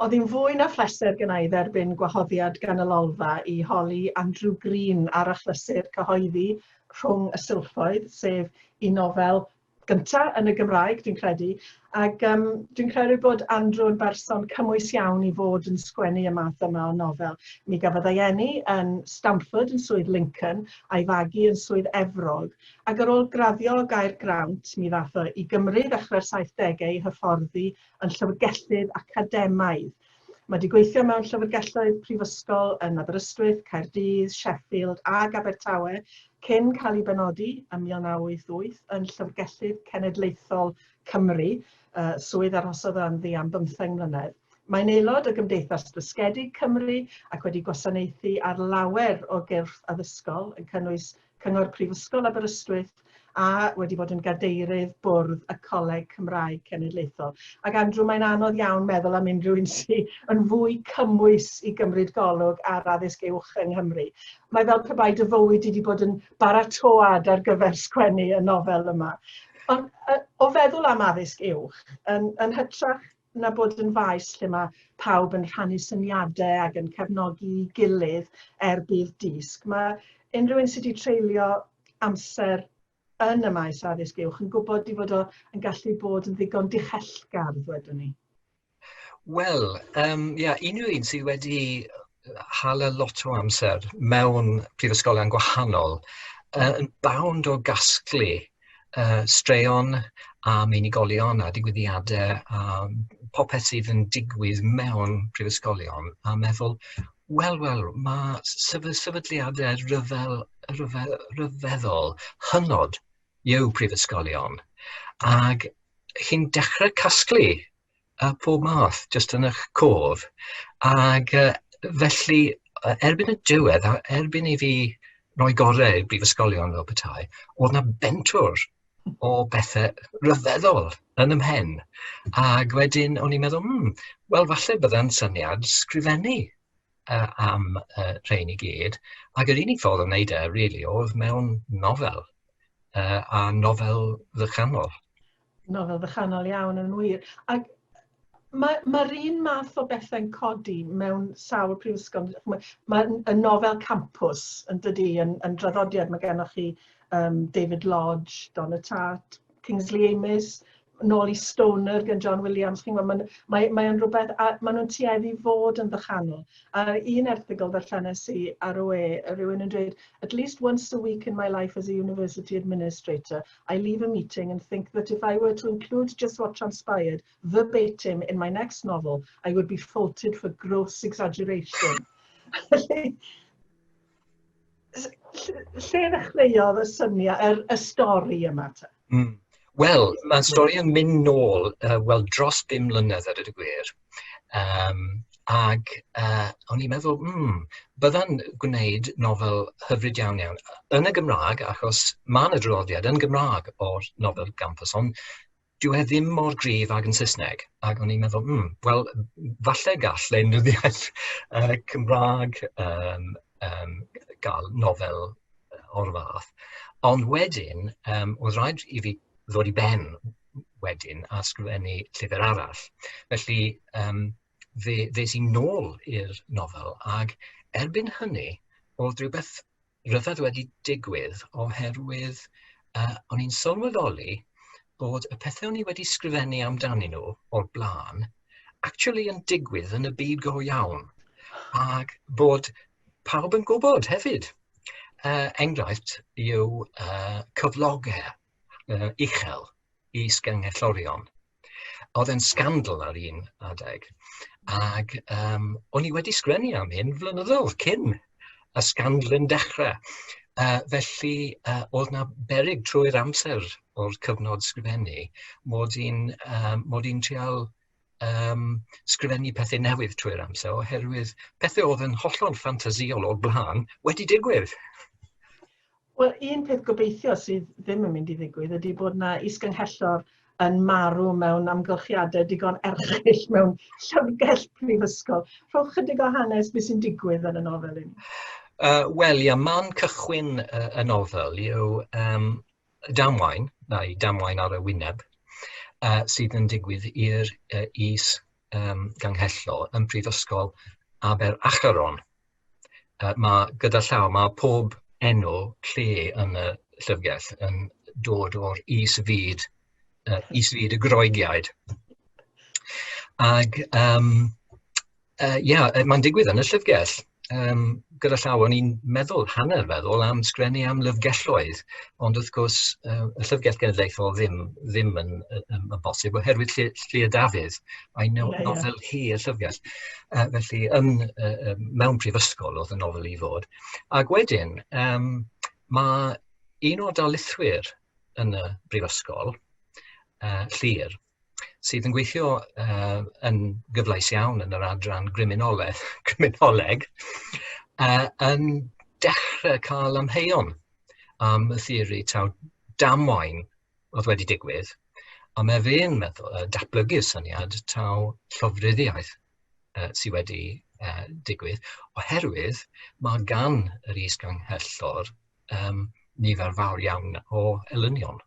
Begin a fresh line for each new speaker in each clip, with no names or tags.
Oedd hi'n fwy na phleser gynna' i dderbyn gwahoddiad gan y Lolfa i holi Andrew Green ar achlysur cyhoeddi Rhwng y Silffoedd, sef un nofel gynta' yn y Gymraeg, dwi'n credu, ac um, dwi'n credu bod Andrew yn berson cymwys iawn i fod yn sgwennu y math yma o nofel. Mi gafodd ei eni yn Stamford yn Swydd Lincoln a'i fagu yn Swydd Efrog, ac ar ôl graddio o Gaergrawnt mi ddath o i Gymru ddechrau'r 70au i hyfforddi yn llyfrgellydd academaidd. Mae wedi gweithio mewn llyfrgelloedd prifysgol yn Aberystwyth, Caerdydd, Sheffield ac Abertawe cyn cael ei benodi ym 1988 yn Llyfrgellydd Cenedlaethol Cymru, uh, swydd arhosodd o ynddi am bymtheng mlynedd. Mae'n aelod o Gymdeithas Dysgedig Cymru ac wedi gwasanaethu ar lawer o gyrff addysgol yn cynnwys Cyngor Prifysgol Aberystwyth a wedi bod yn gadeirydd bwrdd y Coleg Cymraeg Cenedlaethol. Ac Andrew, mae'n anodd iawn meddwl am unrhyw un sy'n yn fwy cymwys i gymryd golwg ar addysg uwch yng Nghymru. Mae fel pe bai dy fywyd wedi bod yn baratoad ar gyfer sgwennu y nofel yma. Ond o feddwl am addysg uwch, yn, yn hytrach na bod yn faes lle mae pawb yn rhannu syniadau ac yn cefnogi gilydd er budd disg. Mae unrhyw un sydd wedi treulio amser yn y maes addysg uwch yn gwybod i fod o yn gallu bod yn ddigon dichellgardd, wedwn ni. Wel,
um, yeah, unrhyw un sydd wedi hala lot o amser mewn prifysgolion gwahanol, uh, yn bawnd o gasglu yy straeon am unigolion a digwyddiade a popeth sydd yn digwydd mewn prifysgolion a meddwl wel wel ma' sefy- sefydliade rhyfel rhyfel rhyfeddol hynod yw prifysgolion ag chi'n dechre casglu a phob math jyst yn eich cof ac yy felly yy erbyn y diwedd a erbyn i fi roi gorau i brifysgolion fel petai o'dd 'na bentwr o bethe rhyfeddol yn ym mhen ag wedyn o'n i'n meddwl hmm wel falle bydda'n syniad sgrifennu yy am yy rhein i gyd ag yr unig ffordd o neud e rili o'dd mewn nofel yy a nofel ddychanol. Nofel
fychanol iawn yn wir. Ac mae'r ma, ma un math o bethau'n codi mewn sawl prifysgol. Mae, ma y nofel campus yn dydy yn, yn draddodiad. Mae gennych chi um, David Lodge, Don y Tart, Kingsley Amis, nôl i Stoner gan John Williams. Chi'n gwybod, mae'n mae, mae rhywbeth, a maen nhw'n tueddu fod yn ddychanol. A un erthigol ddarllenes i ar y we, rhywun yn dweud, at least once a week in my life as a university administrator, I leave a meeting and think that if I were to include just what transpired verbatim in my next novel, I would be faulted for gross exaggeration. lle ddechreuodd y syniad, y, er, y stori yma ta? Mm. Wel,
mae'n stori yn mynd nôl, uh, wel, dros bum mlynedd ar y gwir. Yym ac yy o'n i'n meddwl, hmm, bydda'n gwneud nofel hyfryd iawn iawn yn y Gymraeg, achos ma' 'na draddodiad yn Gymraeg o'r nofel gampus, ond dyw e ddim mor gryf ag yn Saesneg, ac o'n i'n meddwl, hmm, wel, falle gall lenyddiaeth yy Cymraeg yym yym gael nofel o'r fath, ond wedyn yym o'dd raid i fi ddod i ben wedyn a sgrifennu llyfr arall. Felly yym fe ddes i nôl i'r nofel ac erbyn hynny o'dd rhywbeth rhyfedd wedi digwydd oherwydd yy o'n i'n sylweddoli bod y pethe o'n i wedi sgrifennu amdanyn nhw o'r bla'n actually yn digwydd yn y byd go iawn ac bod pawb yn gwybod hefyd. Yy enghraifft yw yy cyflogau. uh, uchel i sgengellorion. Oedd e'n sgandal ar un adeg. Ac um, o'n i wedi sgrennu am hyn flynyddoedd cyn y sgandal yn dechrau. Uh, felly, uh, oedd na berig trwy'r amser o'r cyfnod sgrifennu mod i'n um, mod i'n trial um, sgrifennu pethau newydd trwy'r amser, oherwydd pethau oedd yn hollol ffantasiol o'r blaen wedi digwydd.
Wel, un peth gobeithio sydd ddim yn mynd i ddigwydd ydy bod yna isgynghellor yn marw mewn amgylchiadau digon erchill mewn llyfrgell prifysgol. Rhowch chydig o hanes beth sy'n digwydd yn y nofel i ni. Uh, Wel, ia,
man cychwyn uh, y nofel yw um, damwain, neu damwain ar y wyneb, yy sydd yn digwydd i'r yy is yym ganghellor yn Prifysgol Aber Acheron. Yy ma' gyda llaw, ma' pob enw lle yn y llyfrgell yn dod o'r is fyd yy is fyd y Groegiaid. Ag yym Yy ia, yy mae'n digwydd yn y llyfrgell. Yym gyda llaw o'n i'n meddwl, hanner feddwl, am sgwennu am lyfrgelloedd, ond wrth gwrs yy y Llyfrgell Genedlaethol ddim ddim yn yy yn yn bosib oherwydd lle lle y dafydd, I know a novel here llyfrgell. Yy felly yn yy yy mewn prifysgol o'dd y nofel i fod. Ac wedyn yym ma' un o'r darlithwyr yn y brifysgol yy Llŷr, sydd yn gweithio uh, yn gyfleus iawn yn yr adran griminoleg, griminoleg uh, yn dechrau cael amheuon am y theori taw damwain oedd wedi digwydd, a mae fe'n meddwl, uh, datblygu syniad taw llofruddiaeth uh, sydd wedi uh, digwydd, oherwydd mae gan yr is-ganghellor um, nifer fawr iawn o elynion.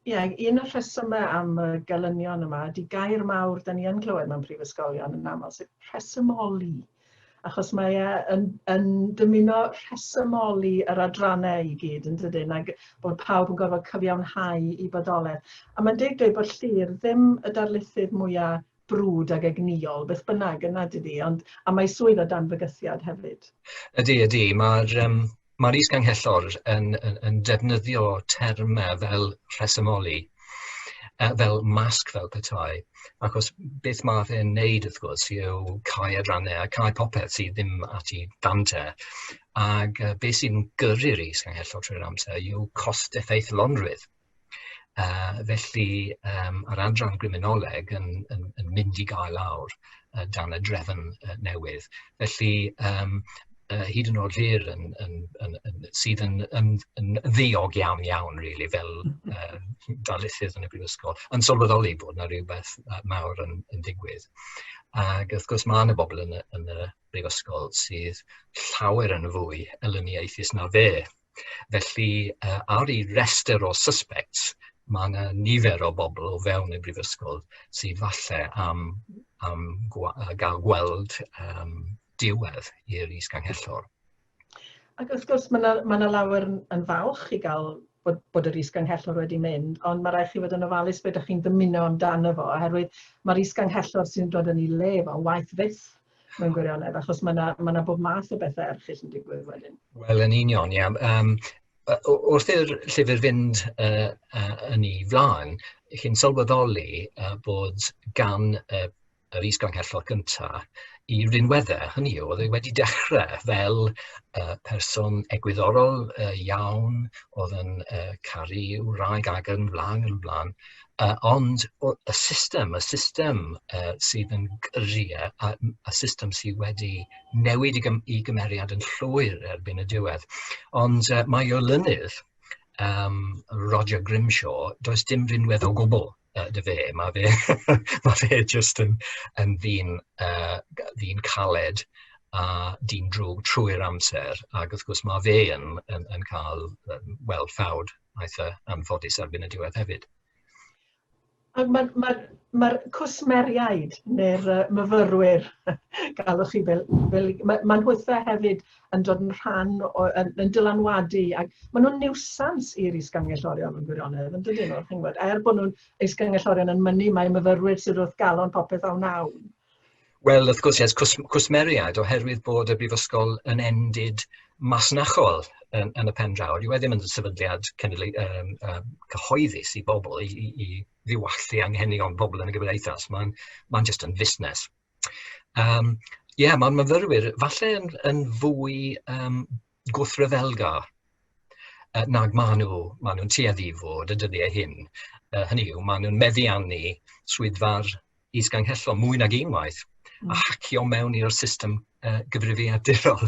Ie, un o'r rhesymau am y gelynion yma ydy gair mawr da ni yn clywed mewn prifysgolion yn aml, sef rhesymoli. Achos mae e yn, yn dymuno rhesymoli yr adrannau i gyd yn dydyn, ac bod pawb yn gorfod cyfiawnhau i bodolaeth. A mae'n deg dweud bod llir ddim y darlithydd mwyaf brwd ac egnïol, beth bynnag, yn nad ydi? Ond... a mae swydd o dan fygythiad hefyd. Ydi, ydi,
mae'r yym mae'r is-ganghellor yn yn yn defnyddio termau fel rhesymoli, yy fel masg fel petai, achos beth ma' fe'n neud wrth gwrs yw cau adrannau a cau popeth sydd ddim at ei dan te, ag yy be sy'n gyrru'r is-ganghellor trwy'r amser yw cost-effeithlonrwydd. Yy felly yym yr adran griminoleg yn yn yn mynd i gael awr yy dan y drefn yy newydd felly yym yy hyd yn o'd Llŷr yn yn yn yn sydd yn yn yn ddiog iawn iawn rili fel yy darlithydd yn y brifysgol yn sylweddoli bod 'na rywbeth yy mawr yn yn digwydd ag wrth gwrs ma' 'na bobol yn y yn y brifysgol sydd llawer yn fwy elyniaethus na fe. Felly yy ar ei restr o suspects ma' 'na nifer o bobl o fewn y brifysgol sy falle am am gwa- yy ga'l gweld yym diwedd i'r is-ganghellor.
Ac wrth gwrs ma' 'na ma' 'na lawer yn yn falch i ga'l bod bod yr is-ganghellor wedi mynd, ond ma' raid chi fod yn ofalus be' 'dach chi'n dymuno amdano fo oherwydd ma'r is-ganghellor sy'n dod yn 'i le fo waeth fyth mewn gwirionedd, achos mae yna ma bob math o bethau erchyll yn digwydd wedyn. Wel, yn union, ia.
Um, wrth i'r llyfr fynd uh, uh, yn ei flaen, chi'n sylweddoli uh, bod gan uh, yr is-ganghellor gyntaf i rinweddau, hynny yw, oedd e wedi dechrau fel uh, person egwyddorol uh, iawn, oedd yn uh, caru wraig ag yn flan yn flan, Yy ond o- y system, y system yy sydd yn gyrru e, a m- y system sydd wedi newid ei gym- ei gymeriad yn llwyr erbyn y diwedd. Ond yy mae ei olynydd yym Roger Grimshaw, does dim rinwedd o gwbl yy 'da fe, ma' fe ma' fe jyst yn yn ddyn yy g- ddyn caled a dyn drwg trwy'r amser, ag wrth gwrs ma' fe yn yn yn ca'l yym wel ffawd wnaeth e anffodus erbyn y diwedd hefyd.
Mae'r ma, ma, ma cwsmeriaid neu'r uh, myfyrwyr, galwch chi fel, fel mae ma nhwythau hefyd yn dod yn rhan, o, yn, yn dylanwadu, ac maen nhw'n niwsans i'r isgangellorion yn gwirionedd, yn dydyn nhw, chi'n gwybod, er bod nhw'n isgangellorion yn mynnu, mae myfyrwyr sydd wrth galon popeth awn awn. Wel wrth
gwrs yes, cws- cwsmeriaid oherwydd bod y brifysgol yn endid masnachol yn, yn y pen draw. Dyw e ddim yn sefydliad cenedlu, um, um, cyhoeddus i bobl, i, i, i ddiwallu anghenion pobl yn y gymdeithas. Mae'n ma, n, just yn fusnes. Um, Ie, yeah, mae'r myfyrwyr falle yn, yn fwy um, gwrthryfelgar uh, nag maen nhw, maen nhw'n tueddu i fod y dyddiau hyn. Uh, hynny yw, maen nhw'n meddiannu swyddfa'r isganghellol mwy nag unwaith mm. a hacio mewn i'r system uh, gyfrifiadurol.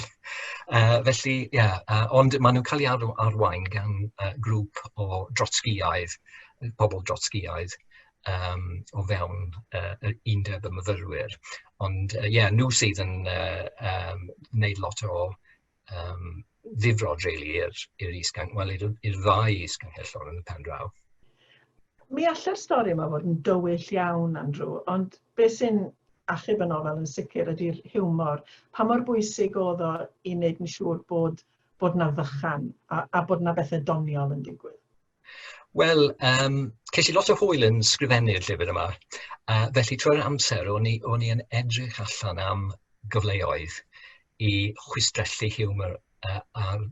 Uh, felly, ie, yeah, uh, ond maen nhw'n cael ei ar arwain gan uh, grŵp o drotsgiaidd, pobl drotsgiaidd, yym o fewn yy yy undeb y myfyrwyr ond yy ie nhw sydd yn yy yym wneud lot o yym ddifrod rili i'r i'r is-gan- wel i'r i'r ddau is-gangellor yn y pen draw. Mi
allai'r stori yma fod yn dywyll iawn Andrew ond be sy'n achub y nofel yn sicr ydi'r hiwmor. Pa mor bwysig o'dd o i neud yn siŵr bod bod 'na fychan a a bod 'na bethe doniol yn digwydd? Wel
yym ces i lot o hwyl yn sgrifennu'r llyfr yma, a felly trwy'r amser o'n i o'n i yn edrych allan am gyfleoedd i chwistrellu hiwmor yy ar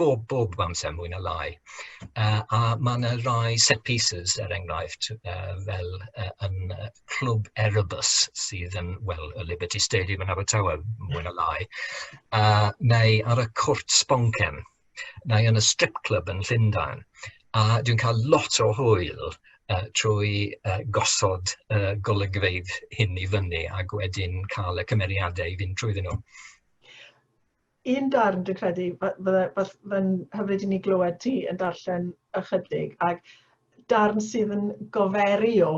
bob bob amser mwy na lai yy a ma' 'na rai set pieces er enghraifft yy fel yy yn yy Clwb Erebus sydd yn wel y Liberty Stadium yn Abertawe mwy na lai a neu ar y cwrt sboncen. neu yn y strip club yn Llundain, a dwi'n cael lot o hwyl uh, trwy uh, gosod uh, golygfeydd hyn i fyny ac wedyn cael y cymeriadau i fynd trwyddyn nhw.
Un darn dwi'n credu, fydde'n hyfryd i ni glywed ti yn darllen ychydig, ac darn sydd yn goferi o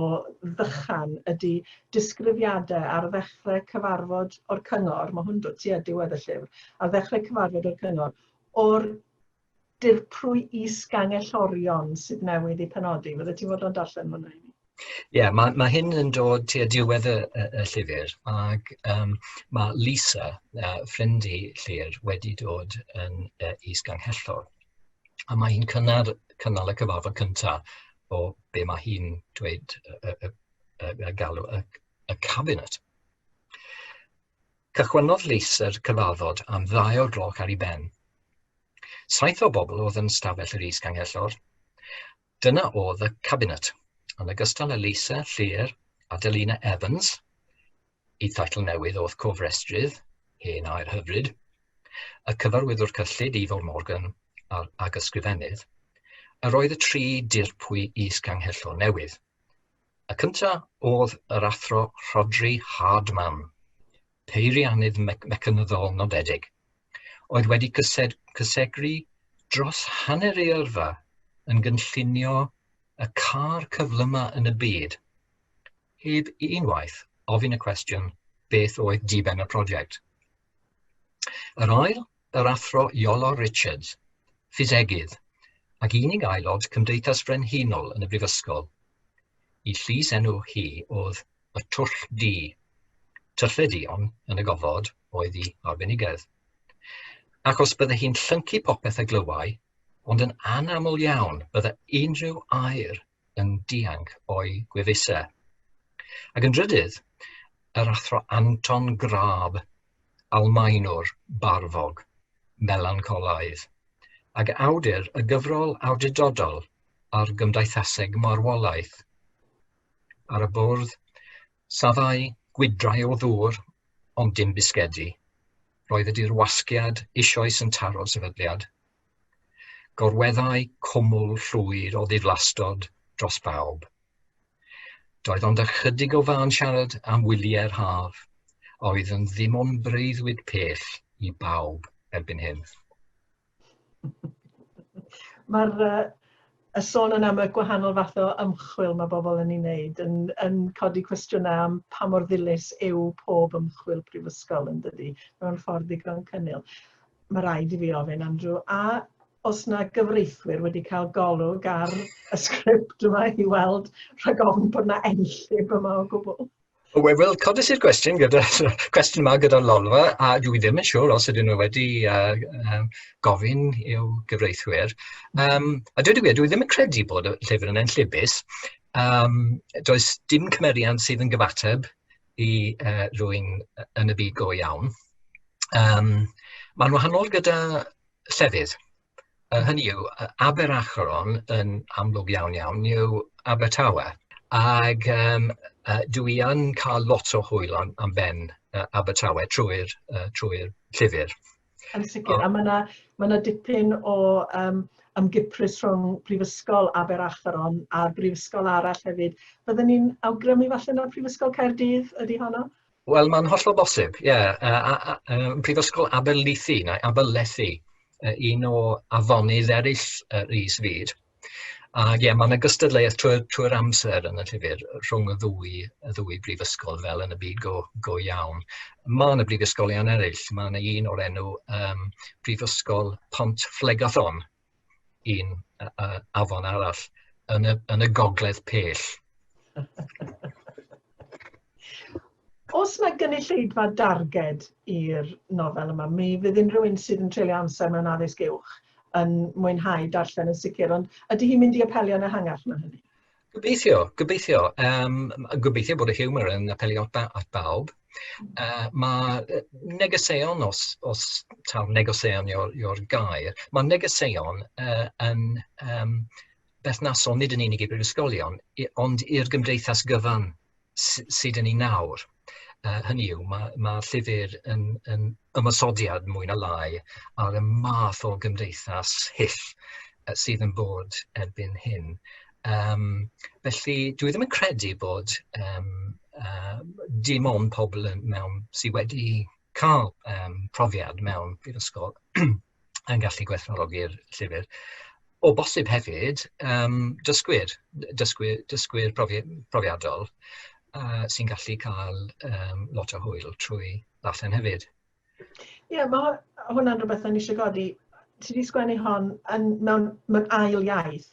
ddychan ydy disgrifiadau ar ddechrau cyfarfod o'r cyngor, mae hwn dod tua diwedd y llyfr, ar ddechrau cyfarfod o'r cyngor, o'r dirprwy is-gangellorion sydd newydd i penodi. Fydde ti'n fod o'n darllen hwnna i mi? Ie, yeah, mae, mae
hyn yn dod tua diwedd y, y, y llyfr ac um, mae Lisa, uh, ffrind i Llyr, wedi dod yn uh, is-ganghellor. a mae hi'n cynnar cynnal y cyfarfod cyntaf o be mae hi'n dweud y, y, y, y, y galw y, y cabinet. Cychwynnodd leis yr cyfarfod am ddau o'r gloch ar ei ben. Saith o bobl oedd yn stafell yr is ganghellor, Dyna oedd y cabinet, yn ogystal â Lisa, Llŷr, Adelina Evans, y teitl newydd o'th cofrestrydd, hen air hyfryd, y cyfarwyddwr cyllid Ifor Morgan a'r agysgrifennydd, yr oedd y tri dirpwy is-ganghellor newydd. Y cynta' oedd yr Athro Rhodri Hardman, peiriannydd mecanyddol nodedig, oedd wedi cysegru dros hanner ei yrfa yn gynllunio y car cyflyma yn y byd, heb unwaith ofyn y cwestiwn beth oedd diben y prosiect. Yr ail, yr Athro Iolo Richards, ffisegydd, ac unig aelod Cymdeithas Frenhinol yn y Brifysgol. I llys enw hi oedd y twll du. Tyllau duon yn y gofod oedd i arbenigedd. Ac os bydde hi'n llyncu popeth a glywai, ond yn anaml iawn bydde unrhyw air yn dianc o'i gwefusau. Ac yn drydydd, yr athro Anton Grab, Almaenwr barfog, melancolaidd, ac awdur y gyfrol awdurdodol ar gymdeithaseg marwolaeth, ar y bwrdd, saddai gwydrau o ddŵr, ond dim bisgedi. Roedd y dirwasgiad eisoes yn taro'r sefydliad. Gorweddai cwmwl llwyd o ddiflastod dros bawb. Doedd ond ychydig o fân siarad am wyliau'r haf, a oedd yn ddim ond breuddwyd pell i bawb erbyn hyn.
Mae'r uh, y sôn yn am y gwahanol fath o ymchwil mae bobl yn ei wneud yn, yn codi cwestiynau am pa mor ddilys yw pob ymchwil prifysgol yn dydy mewn ffordd ddigon cynnil. Mae rhaid i fi ofyn, Andrew, a os na gyfreithwyr wedi cael golwg ar y sgript yma i weld rhag ofn bod na enllib yma o gwbl? Wel, wel codis
i'r gwestiwn gyda cwestiwn yma gyda'r lolfa, a dwi ddim yn siŵr os ydyn nhw wedi uh, um, gofyn i'w gyfreithwyr. Um, a dwi wedi, dwi ddim yn credu bod y llyfr yn enllibus. Um, does dim cymeriad sydd yn gyfateb i uh, rwy'n yn y byd go iawn. Um, Mae'n wahanol gyda llefydd. Yy hynny yw, yy Aberacheron yn amlwg iawn iawn yw Abertawe, ac yym yy dw i yn cael lot o hwyl am am ben yy Abertawe trwy'r yy trwy'r llyfr. Yn
sicr, a ma' 'na ma' 'na dipyn o yym ymgiprys rhwng Prifysgol Aberacheron a'r brifysgol arall hefyd. Bydden i'n awgrymu falle na Prifysgol Caerdydd ydy honno? Wel mae'n hollol
bosib ie yy a- a- yym Prifysgol Aberystwyth neu Aberlethi yy un o afonydd eraill yr is fyd ag ie ma' 'na gystadleuaeth trwy'r trwy'r amser yn y llyfr rhwng y ddwy y ddwy brifysgol fel yn y byd go go iawn. Ma' 'na brifysgolion eryll ma' 'na un o'r enw yym Prifysgol Pont Fflegython un yy yy afon arall yn y yn y gogledd pell.
Os mae gynulleidfa darged i'r nofel yma, mi fydd unrhyw un sydd yn treulio amser mewn addysg uwch yn mwynhau darllen yn sicr, ond ydy hi'n mynd i apelio'n ehangach na hynny? Gobeithio,
gobeithio. Yym gobeithio bod y hiwmor yn apelio at ba- at bawb. Yy ma' yy negeseuon os os taw negeseuon yw'r yw'r gair, ma' negeseuon yy yn yym berthnasol nid yn unig i brifysgolion i- ond i'r gymdeithas gyfan. sy 'da ni nawr, uh, hynny yw, mae ma llyfr yn, yn ymosodiad mwy na lai ar y math o gymdeithas hyll sydd yn bod erbyn hyn. Um, felly, dwi ddim yn credu bod um, uh, dim ond pobl yn, mewn sydd wedi cael um, profiad mewn prifysgol yn gallu gwerthfawrogi'r llyfr. O bosib hefyd yym dysgwyr, dysgwyr dysgwyr profi- profiadol yy sy'n gallu cael yym lot o hwyl trwy ddarllen hefyd. Ie,
mae hwnna'n rhywbeth o'n i eisiau godi. Ti wedi sgwennu hon yn, mewn, mewn ail iaith.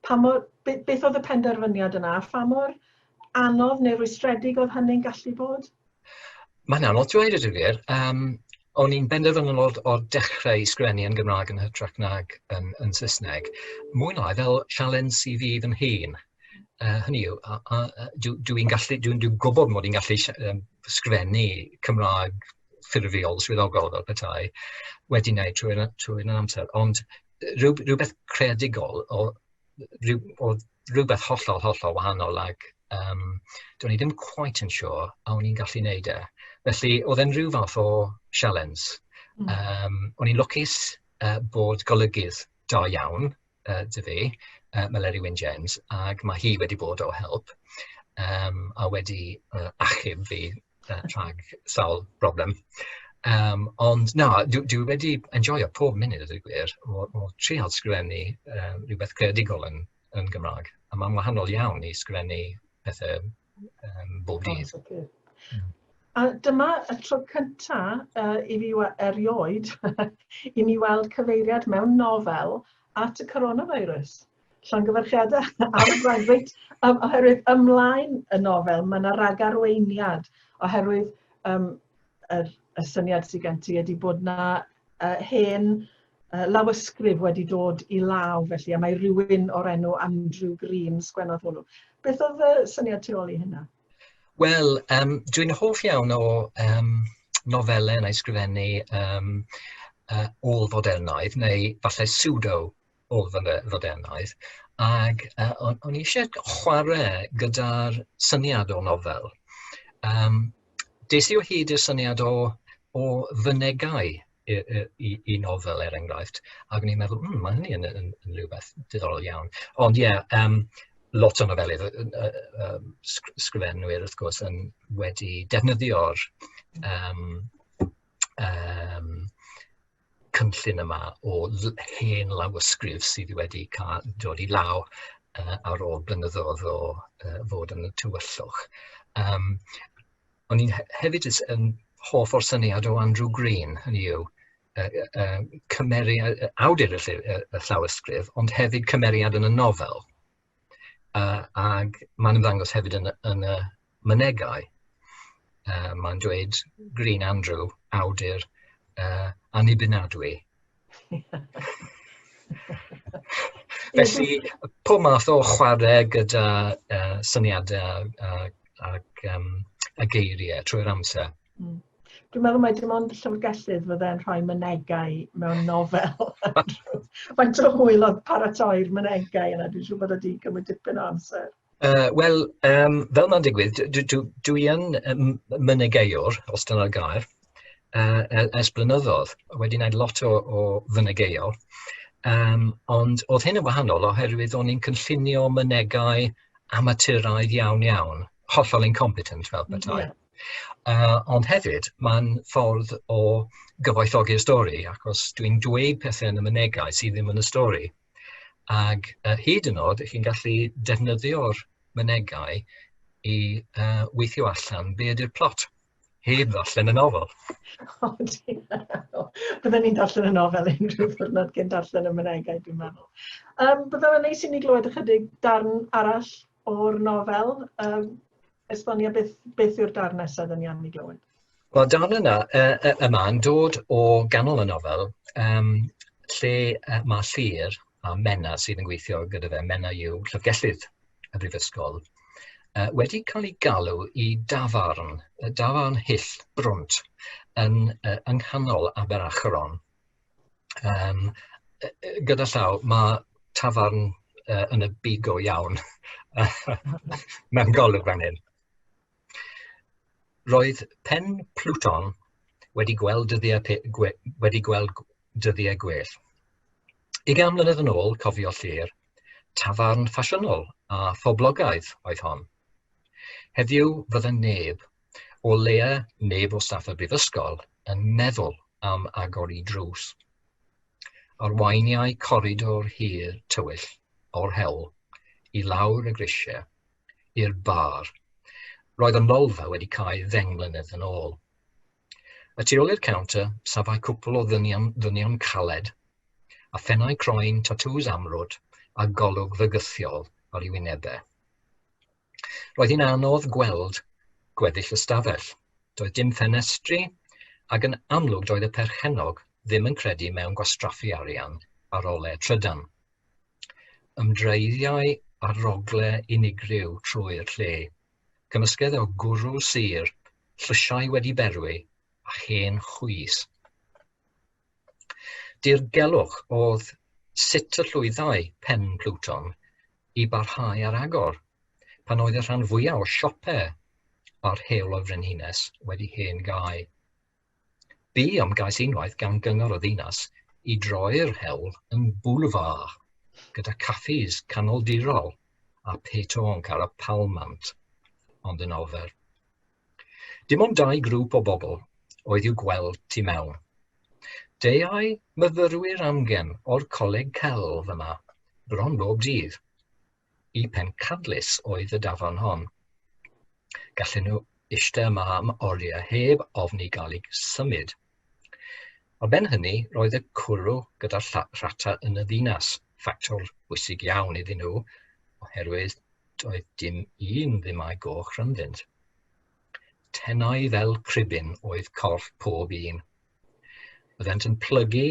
Pa mor, beth oedd y penderfyniad yna? Pha mor anodd neu rwystredig oedd hynny'n gallu bod? Mae'n
anodd dweud a dwi wir. Yym o'n i'n benderfynol o'r o'r dechrau i sgwennu yn Gymraeg yn hytrach nag yn yn Saesneg, mwy neu lai fel sialens i fi fy nhîm. Yy hynny yw a- a- a- dw dw i'n gallu dwi'n dwi'n gwybod mod i'n gallu sh- yym sgwennu Cymraeg ffurfiol, swyddogol fel petai, wedi wneud trwy'r a- trwy'r amser, ond rywbeth creadigol o rhyw, oedd rhywbeth hollol, hollol wahanol ac um, do'n i ddim quite yn siŵr sure a o'n i'n gallu wneud e. Felly, oedd e'n rhyw fath o sialens. Mm. Um, o'n i'n lwcus uh, bod golygydd da iawn uh, dy fi, uh, Meleri Wyn James, ac mae hi wedi bod o help um, a wedi uh, achub fi rhag sawl broblem. Yym ond na, dwi dwi wedi enjoio pob munud a dweud y gwir o o treial sgwennu yy rywbeth creadigol yn yn Gymraeg, a ma'n wahanol iawn i sgwennu pethe yym bob dydd.
A dyma y tro cynta yy i fi wa- erioed i mi weld cyfeiriad mewn nofel at y coronavirus. Llongyfarchiadau am y gwaith. Reit, um, oherwydd ymlaen y nofel, mae yna ragarweiniad, oherwydd um, er, y syniad sydd gen ti ydy bod yna uh, hen uh, lawysgrif wedi dod i law, felly, a mae rhywun o'r enw Andrew Green sgwennodd hwnnw. Beth oedd y syniad tu ôl i hynna? Wel,
um, dwi'n hoff iawn o um, nofelau yn ei sgrifennu um, uh, ôl fodernaidd, neu falle pseudo o fy nodernaidd, ac yy o'n o'n i isie chware gyda'r syniad o nofel. Yym des i o hyd i'r syniad o o fynegai i i i i nofel er enghraifft, ac o'n i'n meddwl hmm ma' hynny yn yn yn rywbeth diddorol iawn. Ond ie yym lot o nofelydd yy yy yym sgr- sgrifenwyr wrth gwrs yn wedi defnyddio'r yym yym cynllun yma o hen lawysgrif sydd wedi cael dod i law uh, ar ôl blynyddoedd o uh, fod yn y tywyllwch. Um, o'n i'n hefyd yn hoff o'r syniad o Andrew Green, hynny yw, uh, uh, cymeriad, awdur y, y, y llawysgrif, ond hefyd cymeriad yn y nofel. Uh, ac mae'n ymddangos hefyd yn, yn y mynegau. Uh, mae'n dweud Green Andrew, awdur uh, annibynnadwy. Felly, pob math o chwarae gyda uh, syniadau ac, ac um, a geiriau trwy'r amser. Hmm. Dwi'n meddwl
mai dim ond y llyfrgellydd fydde'n rhoi mynegau mewn nofel. Faint o hwyl oedd paratoi'r mynegau yna, dwi'n siŵr bod wedi cymryd dipyn o amser. Uh, Wel,
um, fel mae'n digwydd, dwi yn mynegeiwr, os dyna'r gair, uh, ers blynyddoedd. Wedi gwneud lot o, o fynegeiol. Um, ond oedd hyn yn wahanol oherwydd o'n i'n cynllunio mynegau amaturaidd iawn iawn, hollol incompetent fel bethau. Yeah. Yy ond hefyd ma'n ffordd o gyfoethogi'r stori achos dwi'n dweud pethe yn y mynegai sy ddim yn y stori ag yy hyd yn o'd chi'n gallu defnyddio'r mynegai i yy weithio allan be' ydi'r plot heb ddarllen y nofel. O
dear. Bydden ni'n darllen y nofel unrhyw ddiwrnod cyn darllen y mynegai dwi'n meddwl. Yym bydde fe'n neis i ni glywed ychydig darn arall O'r nofel, um, esbonia beth, beth yw'r darn nesaf yn iawn i glywed? Wel, darn yna
uh, yma yn dod o ganol y nofel, um, lle uh, mae Llyr a Menna sydd yn gweithio gyda fe, Menna yw llyfgellydd y brifysgol, uh, wedi cael ei galw i dafarn, dafarn hyll brwnt yn, uh, yng nghanol Aberachron. yym gyda llaw ma' tafarn yy yn y byd go iawn mewn golwg fan hyn. Roedd pen Pluton wedi gweld dyddiau pe- gwe- wedi gweld gw- dyddiau gwell. Ugain mlynedd yn ôl, cofio Llyr, tafarn ffasiynol a phoblogaidd oedd hon. Heddiw fydde neb o leia neb o staff y Brifysgol yn meddwl am agor i drws. Arweiniai coridor hir tywyll o'r hewl i lawr y grisiau i'r bar. Roedd y nolfa wedi cau ddeng mlynedd yn ôl. Y tu ôl i'r counter, safai cwpl o ddynion, ddynion caled, a phennau croen, tatŵs amrwd, a golwg fygythiol ar ei wynebau. Roedd hi'n anodd gweld gweddill y stafell. Doedd dim ffenestri, ac yn amlwg doedd y perchennog ddim yn credu mewn gwastraffu arian ar ole trydan. Ymdreiddiai ar rogle unigryw trwy'r lle. Cymysgedd o gwrw sur, llysiau wedi berwi, a hen chwys. Dirgelwch oedd sut y llwyddai Pen Pluton i barhau ar agor pan oedd y rhan fwyaf o siope a'r Heol y Frenhines wedi hen gau. Bu ymgais unwaith gan Gyngor y Ddinas i droi'r hewl yn boulevard gyda caffis canoldirol a petoonc ar y palmant, ond yn ofer. Dim ond dau grŵp o bobl oedd i'w gweld tu mewn. Deuai myfyrwyr amgen o'r coleg celf yma, bron bob dydd. Y pencadlys oedd y dafarn hon. Gallen nhw eistedd yma am oriau heb ofn i gael eu symud. Ar ben hynny, roedd y cwrw gyda Rhata yn y ddinas, ffactor bwysig iawn iddyn nhw, oherwydd doedd dim un ddim â'i goch rhyngddynt. Tenau fel cribin oedd corff pob un. Byddent yn plygu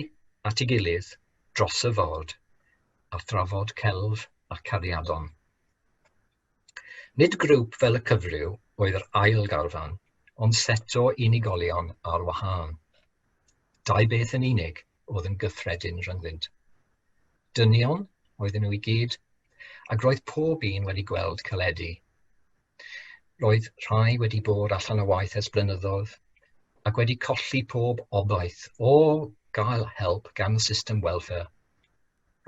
at ei gilydd dros y ford a thrafod celf a cariadon. Nid grŵp fel y cyfryw oedd yr ail garfan, ond set o unigolion ar wahân. Dau beth yn unig oedd yn gyffredin rhyngddynt. Dynion oedden nhw i gyd, ac roedd pob un wedi gweld caledi. Roedd rhai wedi bod allan o waith ers blynyddoedd, ac wedi colli pob obaith o gael help gan y system welfare.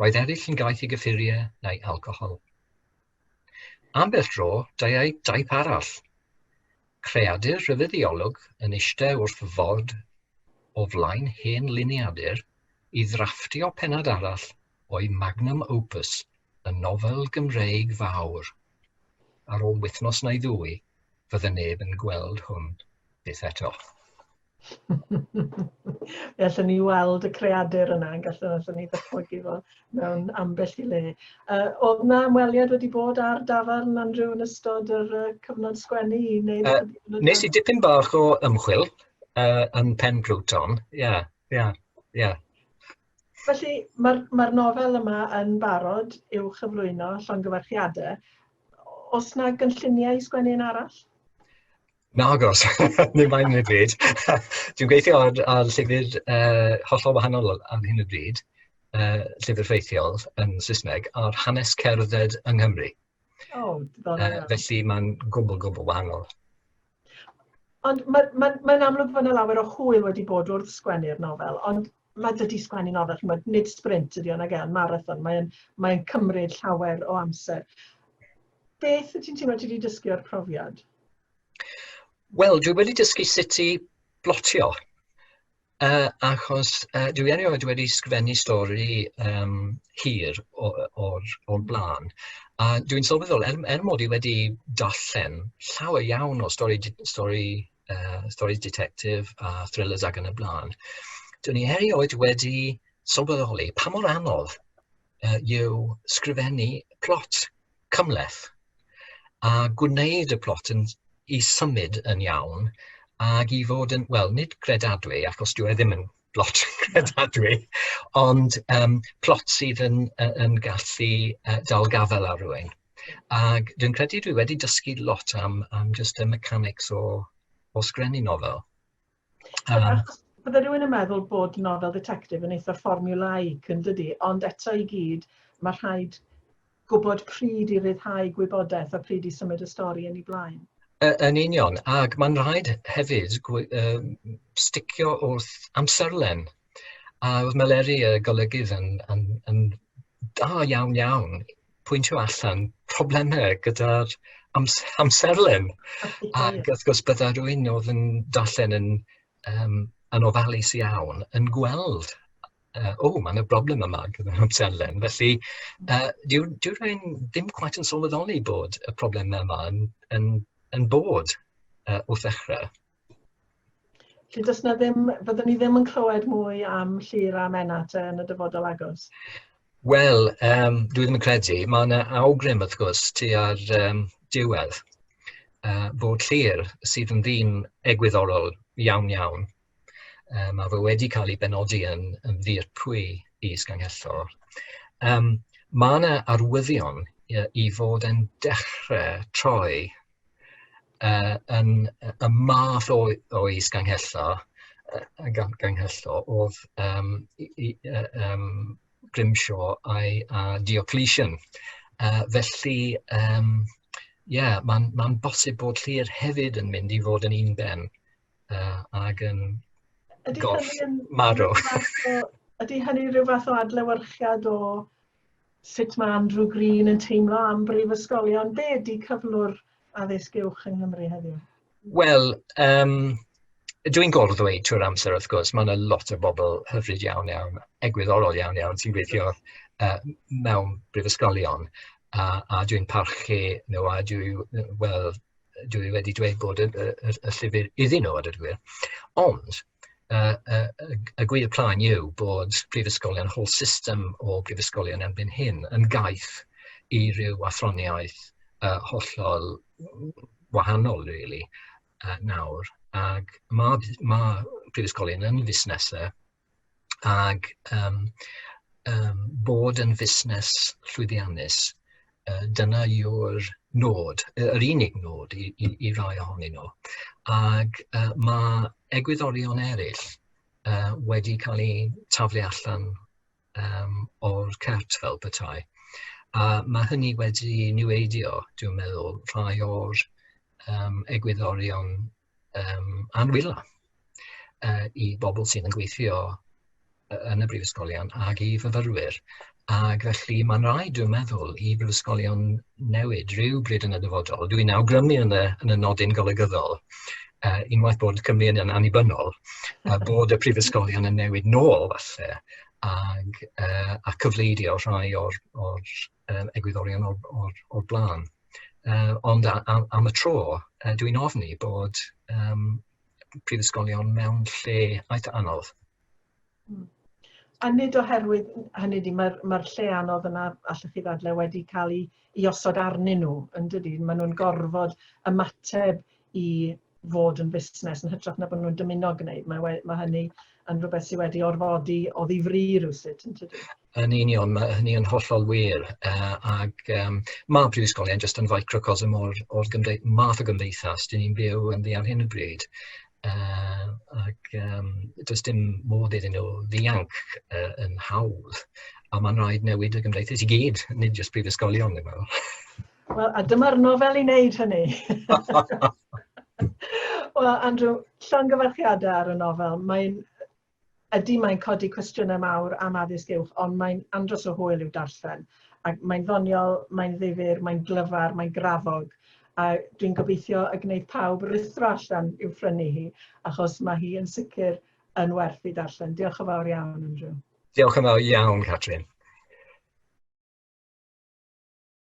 Roedd eraill yn gaeth i gyffuriau neu alcohol. Ambell dro deuai daith arall. Creadur rhyfeddiolwg yn eistedd wrth ford o flaen hen liniadur i ddrafftio pennod arall o'i magnum opus, y nofel Gymreig fawr. Ar ôl wythnos neu ddwy, fydde neb yn gweld hwn byth eto.
Fe allwn ni weld y creadur yna, yn gallu allwn ni ddatblygu fo mewn ambell i le. Uh, oedd na ymweliad wedi bod ar dafarn Andrew yn ystod yr uh, cyfnod sgwennu? Neu uh, nes i dipyn
bach o ymchwil uh, yn Pen Bruton, ie, yeah, ie, yeah, ie. Yeah.
Felly, mae'r ma nofel yma yn barod i'w chyflwyno llongyfarchiadau. Os na gynlluniau i sgwennu un arall? Nagoes,
ddim ar hyn o bryd. Dwi'n gweithio ar ar llyfr yy hollol wahanol ar hyn o bryd, yy llyfr ffeithiol yn Saesneg ar hanes cerdded yng Nghymru... O diddorol. ...yy felly mae'n gwbl gwbl wahanol.
Ond ma' ma' mae'n amlwg fod 'na lawer o hwyl wedi bod wrth sgwennu'r nofel, ond ma' dydi sgwennu nofel ch'mod nid sbrint ydi o nage ond marathon, mae'n mae'n cymryd llawer o amser. Beth wyt ti'n teimlo ti 'di dysgu o'r profiad?
Wel, dwi wedi dysgu sut i blotio, yy, achos yy dwi erioed wedi sgwennu stori yym hir o- o'r o'r bla'n, a dwi'n sylweddoli er er mod i wedi darllen llawer iawn o stori d- stori yy stori ditectif a thrillers ac yn y bla'n, dwn i erioed wedi sylweddoli pa mor anodd yy yw sgrifennu plot. cymhleth a gwneud y plot yn... i symud yn iawn ac i fod yn, wel, nid credadwy, achos dyw e ddim yn blot credadwy, ond yym plot sydd yn yy yn gallu yy dal gafael ar rywun. Ac dwi'n credu dwi wedi dysgu lot am am jyst y mechanics o o sgrennu nofel.
Bydde rhywun yn meddwl bod nofel dditectif yn eitha fformulaic yn dydi, ond eto i gyd mae rhaid gwybod pryd i ryddhau gwybodaeth a pryd i symud y stori yn ei blaen. Yn union,
ac mae'n rhaid hefyd sticio wrth amserlen A oedd Meleri, y golygydd, yn yn yn dda iawn iawn pwyntio allan problemau gyda'r ams- amserlen ac wrth gwrs bydda rywun oedd yn darllen yn yym yn ofalus iawn yn gweld yy "o ma' 'na broblem yma gyda'r amserlen" felly yy dyw dyw rywun ddim cweit yn sylweddoli bod y problemau yma yn yn yn bod yy wrth ddechrau. Felly does na
ddim, byddwn ni ddim yn clywed mwy am Llyr a Menna te yn y dyfodol agos? Wel,
um, dwi ddim yn credu. Mae yna awgrym, wrth gwrs, ti ar um, diwedd uh, bod Llyr sydd yn ddyn egwyddorol iawn iawn. Uh, mae fe wedi cael ei benodi yn, yn ddir pwy i Sganghellor. Um, mae yna arwyddion i fod yn dechrau troi uh, yn y math o, o is ganghella, uh, ganghella oedd um, i, i, uh, um, Grimshaw a'i a Diocletian. Uh, felly, um, yeah, mae'n ma bosib bod llir hefyd yn mynd i fod yn un ben uh, ag yn gorff marw.
Ydy hynny rhyw fath o adlewyrchiad o Sut mae Andrew Green yn teimlo am brifysgolion? Be ydy cyflwr addysg uwch yng Nghymru heddiw? Wel,
um, Dw i'n gorfod ddweud trwy'r amser, wrth gwrs, mae yna lot o bobl hyfryd iawn iawn, egwyddorol iawn iawn, sy'n gweithio uh, mewn brifysgolion, a, a dwi'n parchu nhw, a dwi, wel, dwi wedi dweud bod y, y, y, y llyfr iddyn nhw, a dydw gwir. Ond, y gwir plaen yw bod prifysgolion, whole system o brifysgolion erbyn hyn, yn gaeth i ryw athroniaeth uh, hollol wahanol, really, uh, nawr. Ac mae, mae prifysgolion yn fusnesau ac um, um, bod yn fusnes llwyddiannus Dyna yw'r nod, yr unig nod i, i, i rai ohonyn nhw. Ac uh, mae egwyddorion eraill uh, wedi cael eu taflu allan um, o'r cert fel petai. A mae hynny wedi niweidio, dwi'n meddwl, rhai o'r um, egwyddorion um, a'n wylo uh, i bobl sydd yn gweithio yn y brifysgolion ag i fyfyrwyr. Ac felly mae'n rhaid, dwi'n meddwl, i brifysgolion newid rhyw bryd yn y dyfodol. Dwi'n awgrymu yn y, yn y nodyn golygyddol, uh, unwaith bod Cymru yn annibynnol, uh, bod y prifysgolion yn newid nôl falle, ag, uh, a cyfleidio rhai o'r, or, um, egwyddorion o'r, or, or blaen. Uh, ond am, am y tro, uh, dwi'n ofni bod um, prifysgolion mewn lle eitha anodd. Hmm.
A nid oherwydd hynny di, mae'r mae lle anodd yna, allwch chi ddadle, wedi cael ei, ei osod arnyn nhw, yn dydy? Maen nhw'n gorfod ymateb i fod yn fusnes yn hytrach na bod nhw'n dymuno gwneud. Mae, we- mae hynny yn rhywbeth sydd wedi orfodi o ddifri rhywsut yn tydi? Yn union, mae
hynny yn hollol wir. Uh, ac um, mae prifysgolion jyst yn ficrocosm o'r, or gymde math o gymdeithas dyn ni'n byw yn ddi ar hyn o bryd. Uh, ac um, does dim modd iddyn nhw ddianc uh, yn hawdd. A mae'n rhaid newid y gymdeithas i gyd, nid jyst prifysgolion, dwi'n meddwl. Wel, a dyma'r
nofel i wneud hynny! Wel, Andrew, llongyfarchiadau ar y nofel. Mae'n ydy mae'n codi cwestiynau mawr am addysg uwch, ond mae'n andros o hwyl i'w darllen. Ac mae'n ddoniol, mae'n ddifur, mae'n glyfar, mae'n grafog, a dwi'n gobeithio y gwneud pawb rithro allan i'w phrynu hi, achos mae hi yn sicr yn
werth
ei darllen.
Diolch yn
fawr iawn, Andrew.
Diolch
yn fawr iawn,
Catrin.